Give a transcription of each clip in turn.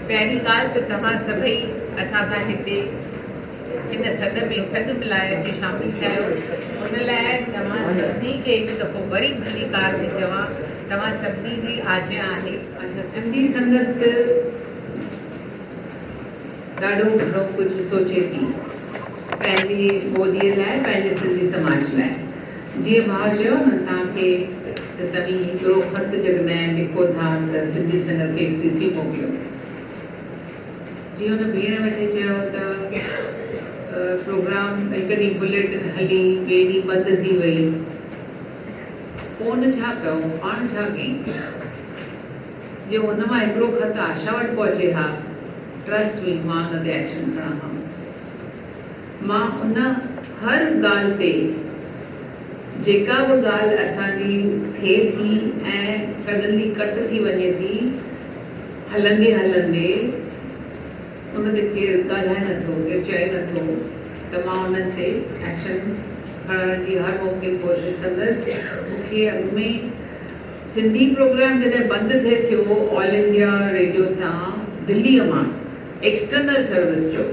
پهرين ڳالهه ته توهان سڀئي اسان سان هتي هن سڏ ۾ سڏ ملائي اچي شامل ٿيا آهيو ان لاء توهان سڀني کي هڪ دفعو وري ڀليڪار ٿي چوان توهان سڀني جي آجيان آهي اچا سنڌي سنگت ته ڏاڍو گهڻو ڪجهه سوچي ٿي پنهنجي ٻوليء لاء پنهنجي سنڌي سماج لاء جيئن ڀاء چيو هن توهان کي ته توهين هڪڙو خط جڏهن لکو ٿا ته سنڌي سنگت کي سي سي موڪليو جي ان ڀيڻ وٽي چيو ته پروگرام هڪ ڏينهن بليٽن هلي ٻئي ڏينهن بند ٿي وئي. ڪون ڇا ڪيو، پاڻ ڇا ڪيئي؟ جي هن مان هڪڙو خط آشا وٽ پهچي ها، Trust me، مان ان تي ايڪشن کڻان ها. مان ان هر ڳالهه تي، جيڪا به ڳالهه اسان جي ٿئي ٿي ۽ Suddenly ڪٽ ٿي وڃي ٿي، هلندي هلندي، ان تي ڪير ڳالهائي نه ٿو، ڪير چئي نه ٿو ته مان انهن تي ايڪشن کڻڻ جي هر ممڪن ڪوشش ڪندس. مون کي اڳ ۾ ئي سنڌي پروگرام جڏهن بند ٿئي ٿيو آل انڊيا ريڊيو تان دلي مان ايڪسٽرنل سروس جو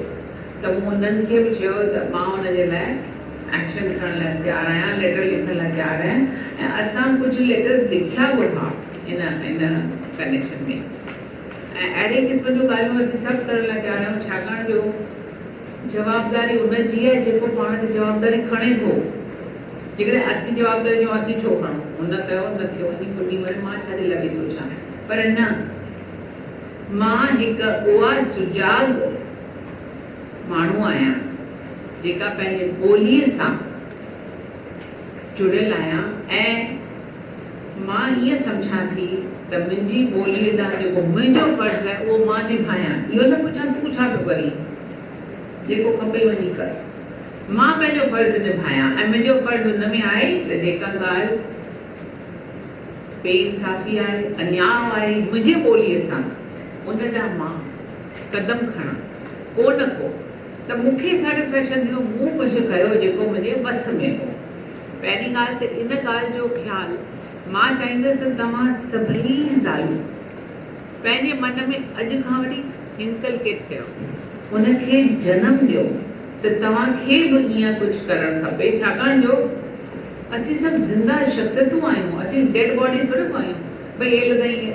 ته مون انهن کي به چيو ته مان ان جي لاء ايڪشن کڻڻ لاء تيار آهيان، ليٽر لکڻ لاء تيار آهيان ۽ اسان ڪجهه ليٽرز لکيا به ها ان ان ڪنيڪشن ۾. ۽ اهڙي قسم جون ڳالهيون اسين سڀ ڪرڻ لاء تيار آهيون ڇاڪاڻ جو جوابداري ان جي آهي جيڪو پاڻ تي جوابداري کڻي ٿو جيڪڏهن اسين جوابداري چئون اسين ڇو کڻون هن ڪيو نه ٿيو وڃي ڦٽي مري مان ڇا جي لاء پئي سوچان پر نه مان هڪ اها سجاڳ ماڻهو آهيان جيڪا پنهنجي ٻولي سان. جڙيل آهيان ۽ مان ائين سمجهان ٿي ته منهنجي ٻوليء ڏانهن جيڪو منهنجو فرض آهي اهو مان نڀايان، اهو نه پڇان تون ڇا پيو ڪرين، جيڪو کپئي وڃي ڪر. مان پنهنجو فرض نڀايان ۽ منهنجو فرض ان ۾ آهي ته جيڪا ڳالهه بي انصافي آهي، انياء آهي منهنجي ٻوليء سان، ان ڏانهن مان قدم کڻان، ڪو نه ڪو. ته مون کي سيٽسفيڪشن ٿيندو مون ڪجهه ڪيو جيڪو منهنجي وس ۾ هو. پهرين ڳالهه ته ان ڳالهه جو خيال مان چاهيندس ته توهان سڀئي زالون پنهنجي من ۾ اڄ کان وٺي انڪلڪيٽ ڪيو ان کي جنم ڏيو ته توهان کي به ايئن ڪجهه ڪرڻ کپي ڇاڪاڻ جو اسين سڀ زنده شخصيتون آهيون اسين ڊيڊ باڊيز ٿوري ڪو آهيون ڀئي هيل تائين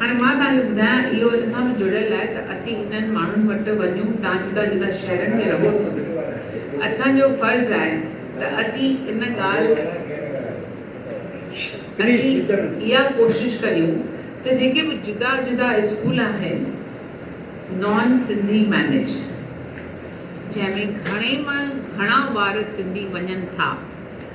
هاڻي مان توهان کي ٻڌايان اهو ان سان به جڙيل آهي ته اسين انهن ماڻهن وٽ وڃون تان جدا جدا شهرن ۾ رهو ٿو نه اسان جو فرض آهي ته اسين ان ڳالهه اسين اها ڪوشش ڪريون ته جيڪي به جدا جدا اسڪول آهن نان سنڌي مينيج جنهن ۾ گهڻي مان گهڻا ٻار سنڌي وڃن ٿا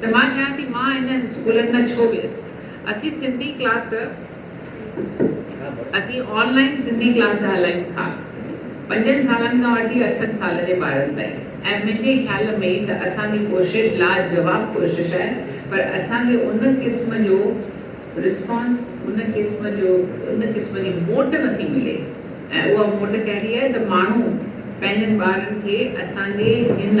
ته مان چاهيان ٿي مان انهن اسڪولن ۾ ڇو ويس. اسين سنڌي ڪلاس اسين آن لائين سنڌي ڪلاس هلائيون ٿا پنجن سالن کان وٺي اٺن سال جي ٻارن تائين ۽ منهنجي خيال ۾ ته اسان جي ڪوشش لاجواب ڪوشش آهي پر اسان کي ان قسم جو رسپانس ان قسم جو ان قسم جي موٽ نٿي ملي ۽ اها موٽ ڪهڙي آهي ته ماڻهو پنهنجن ٻارن کي اسان جي هن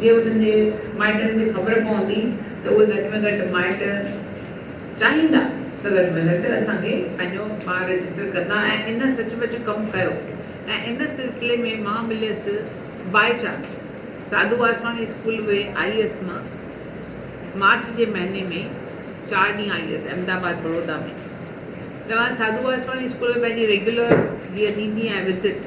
جي انهن جي مائٽن کي خبر پوندي ته اهي گهٽ ۾ گهٽ مائٽ چاهيندا ته گهٽ ۾ گهٽ اسان کي پنهنجو ٻار رجسٽر ڪندا ۽ ان سچ پچ ڪم ڪيو ۽ ان سلسلي ۾ مان مليس by chance Sadhu Vaswani school V I هيس مان مارچ جي مهيني ۾ چار ڏينهن آئي هيس احمد آباد بڙودا ۾ ته مان ساڌو واسواڻي اسڪول ۾ پنهنجي ريگيولر جيئن ڏيندي آهيان وزٽ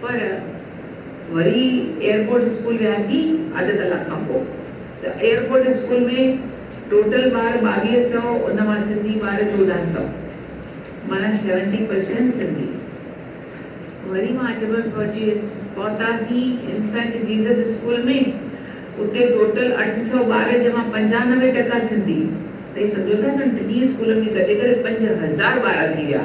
پر وري ايئرپورٽ اسڪول وياسين اڌ ڪلاڪ کان پوء ته ايئرپورٽ اسڪول ۾ ٽوٽل ٻار ٻاويهه سؤ ان مان سنڌي ٻار چوڏهن سؤ معنيٰ سيونٽي پرسينٽ سنڌي. وري مان اچ ڀر پهچي ويس. پهتاسين انفينٽ جيزس اسڪول ۾ اتي ٽوٽل اٺ سؤ ٻار جنهن مان پنجانوي ٽڪا سنڌي تئي سمجهو ٿا ٽنهي اسڪولن کي گڏي ڪري پنج هزار ٻار ٿي ويا.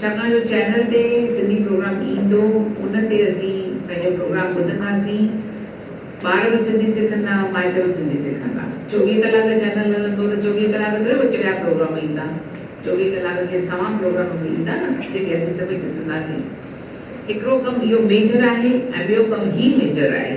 ڇاڪاڻ جو چينل تي سنڌي پروگرام ايندو ان تي اسين پنهنجو پروگرام ٻڌنداسين ٻار به سنڌي سکندا مائٽ به سنڌي سکندا چوويهه ڪلاڪ چينل هلندو ته چوويهه ڪلاڪ ٿوري وچڙيا پروگرام ايندا چوويهه ڪلاڪ کي سوان پروگرام به ايندا نه جيڪي اسين سڀئي ڏسنداسين هڪڙو ڪم اهو ميجر آهي ۽ ٻيو ڪم هي ميجر آهي.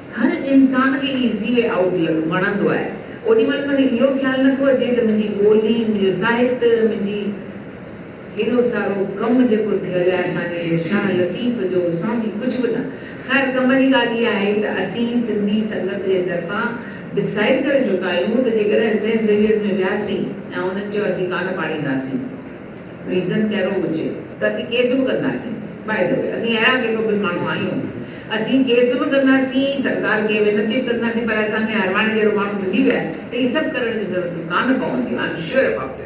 هر انسان کي ايزي وي آئوٽ لڪ وڻندو آهي. اوڏي مهل منهن اهو خيال نه ٿو اچي ته منهنجي ٻولي، منهنجو ساهت، منهنجي هيڏو سارو ڪم جيڪو ٿيل آهي اسان جي شاهه لطيف جو سان به ڪجهه به نه. خير ڪم جي ڳالهه اها آهي ته اسين سنڌي سنگت جي طرفان ڊسائيڊ ڪري چڪا آهيون ته جيڪڏهن سينٽ زيويئرز ۾ وياسين ۽ انهن چيو اسين ڪانه پاڙينداسين. ريزن ڪهڙو هجي ته اسين ڪيس به ڪنداسين باء دي وي اسين اهڙا ڪيڪو بل ماڻهو آهيون اسين ڪيس به ڪنداسين سرڪار کي وينتي به ڪنداسين پر اسان کي هرواڻي جهڙو ماڻهو ملي ويا ته هي سڀ ڪرڻ جون ضرورتون ڪانه پونديون I am sure about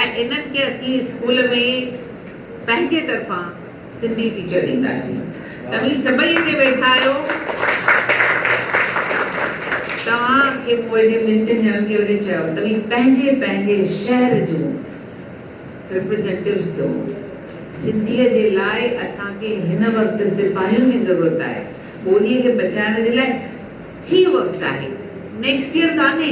it ۽ انهن کي اسين اسڪول ۾ پنهنجي طرفان سنڌي ٽيچر ڏينداسين توهين سڀئي اتي ويٺا آهيو توهان کي مون اهڙي منٽن ڄڻن کي وٺي چيو توهين پنهنجي پنهنجي شهر جون رپريزينٽيوز ٿيو سنڌي جي لاء اسان کي هن وقت سپاهين جي ضرورت آهي ٻولي کي بچائڻ جي لاء هي وقت آهي نيڪسٽ ييئر ڪانهي.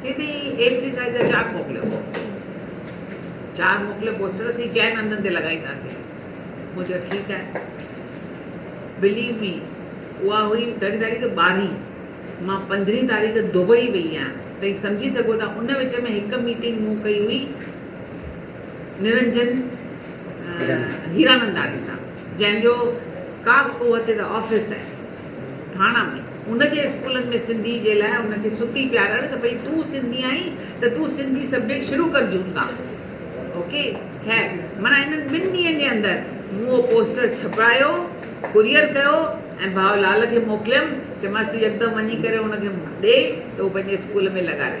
سيدي ايتري سائيز جا چار موڪليو. چار موڪلي پوسٽر اسين چئن هنڌن تي لڳائينداسين. مون چيو ٺيڪ آهي. بليو مي اها هئي ڪهڙي تاريخ ٻارهين. مان پندرهين تاريخ دبئي وئي آهيان. توهين سمجهي سگهو ٿا ان وچ ۾ هڪ ميٽنگ مون ڪئي هئي نرنجن هيراننداڻي سان جنهن جو ڪاف اهو هتي ته آفيس آهي. ٿاڻا ۾، هن جي اسڪولن ۾ سنڌي جي لاء هن کي ستي پيارڻ ته ڀئي تون سنڌي آهين ته تون سنڌي سبجيڪٽ شروع ڪر جون کان اوڪي خير معنيٰ هنن ٻن ڏينهن جي اندر مون اهو پوسٽر ڇپرايو ڪوريئر ڪيو ۽ ڀاء لال کي موڪليم چيمانس تون يڪدم وڃي ڪري هن کي ڏي ته هو پنهنجي اسڪول ۾ لڳاري.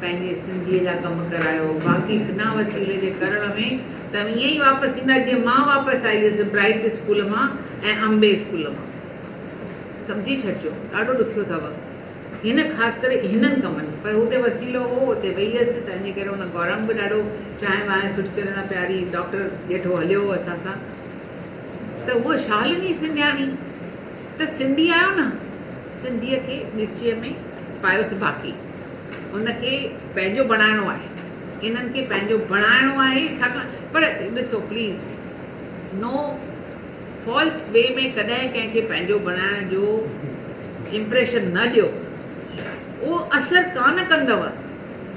پنهنجي سنڌيء جا ڪم ڪرايو، باقي بنا وسيلي جي ڪرڻ ۾ ته اوهين ائين ئي واپس ايندا جيئن مان واپس آئي هيس برائيٽ اسڪول مان ۽ امبي اسڪول مان. سمجهي ڇڏجو، ڏاڍو ڏکيو اٿئو هن خاص ڪري هنن ڪمن ۾، پر هتي وسيلو هو، اتي ويئي هيس، تنهنجي ڪري هن گورنگ به ڏاڍو چانهه وانهه سٺي طرح سان پياري، ڊاڪٽر ڄيٺو هليو هو اسان سان ته هوء شالني سنڌياڻي ته سنڌي آهيو نه، سنڌيء کي ڳچيء ۾ پايوس باقي. ان کي پنهنجو بڻائڻو آهي. انهن کي پنهنجو بڻائڻو آهي ڇاڪاڻ پر ڏسو پليز نو فالس وي ۾ ڪڏهن ڪنهن کي پنهنجو بڻائڻ جو امپريشن نه ڏيو اهو اثر ڪانه ڪندو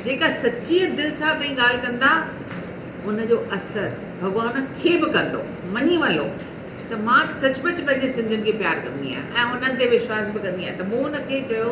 جيڪا سچيء دل سان تهين ڳالهه ڪندا ان جو اثر ڀڳوان کي به ڪندو مڃي ولو ته مان سچ پچ پنهنجي سنڌين کي پيار ڪندي آهيان ۽ انهن تي وشواس به ڪندي آهيان ته مون ان کي چيو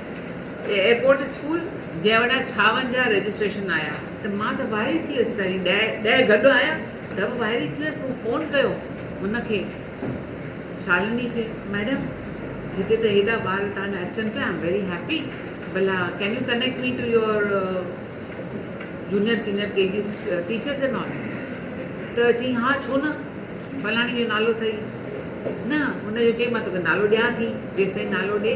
ايئرپورٽ اسڪول جيوڙا ڇاون جا رجسٽريشن آيا ته مان ته وائري ٿي ويس پهرين ڏهه گڏ آيا ته به وائري ٿي ويس مون فون ڪيو ان کي شالني کي ميڊم هتي ته هيڏا ٻار تهان جا اچن پيا آئم ويري هيپي بلا can you connect me to your junior senior K G teachers and all ته چي ها ڇو نه فلاڻي جو نالو اٿئي نه هن جو چئي مان توکي نالو ڏيان ٿي جيستائين نالو ڏي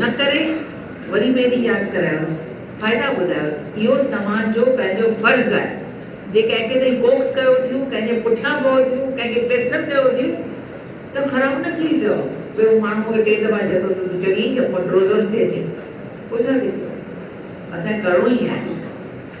نه ڪري وري ٻيلي ياد ڪرايوس، فائدا ٻڌايوس، اهو توهان جو پنهنجو فرض آهي، جي ڪنهن کي توهين ڪوڪس ڪيو ٿيون، ڪنهن جي پٺيان پئو ٿيون، ڪنهن کي پيسر ڪيو ٿيون ته خراب نه فيل ڪيو، ڀي هو ماڻهو مون کي ٽي دفعا چئي ٿو ته تون چڱي ٿي ڪنڊرولرز ٿي اچين، پوء ڇا ٿي پيو، اسان کي ڪرڻو ئي آهي.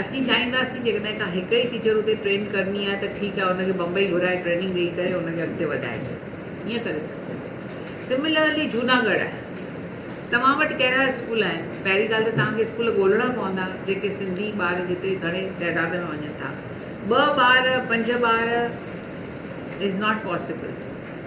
اسين چاهينداسين جيڪڏهن ڪا هڪ ئي ٽيچر اتي ٽرين ڪرڻي آهي ته ٺيڪ آهي ان کي بمبئي گهرائي ٽريننگ ڏئي ڪري ان کي اڳتي وڌائجي ائين ڪري سگهجي ٿو سملرلي جهوناڳڙهه آهي توهان وٽ ڪهڙا اسڪول آهن پهرين ڳالهه ته توهان کي اسڪول ڳولهڻا پوندا جيڪي سنڌي ٻار جتي گهڻي تعداد ۾ وڃن ٿا ٻه ٻار پنج ٻار از ناٽ پاسبل.